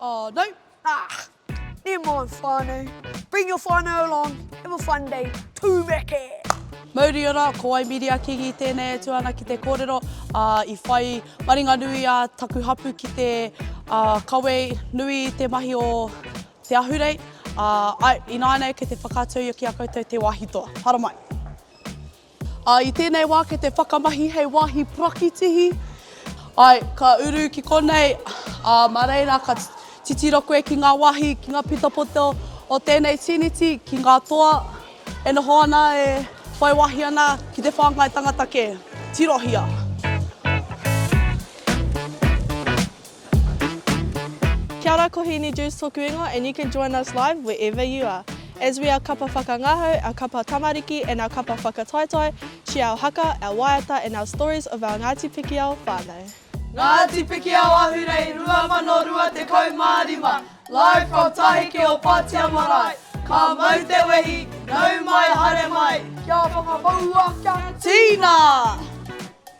Oh no! Ah! Never mind whanau, bring your whanau along, have a fun day, tumeke! Mauri ora, ko wai Miria Kingi tēnei e tū ana ki te kōrero, ā, i whai maringanui a taku hapū ki te kawe nui i te mahi o te ahurei, ā, ināianei kei te whakaatuia ki a koutou te wāhi toa. Haramai! Ā, i tēnei wā kei te whakamahi hei wāhi prakitihi. Āe, ka uru ki konei, ā, mā reira ka titiro koe ki ngā wāhi, ki ngā pitapoto o tēnei tīniti, ki ngā toa e noho ana, e whai wāhi ana ki te whāngai tangata kē. Tirohia! Kia ora ko Hīni Juice toku ingoa and you can join us live wherever you are. As we are kapa whakangahau, our kapa tamariki and our kapa whakataetae, share our haka, our waiata and our stories of our Ngāti Pikiao whānau. Ngāti Pikiao Ahurei 2025 Live from Taheke o Patea Marae Ka mau te wehi, nau mai, haere mai Kia whakamaua, kia tīna!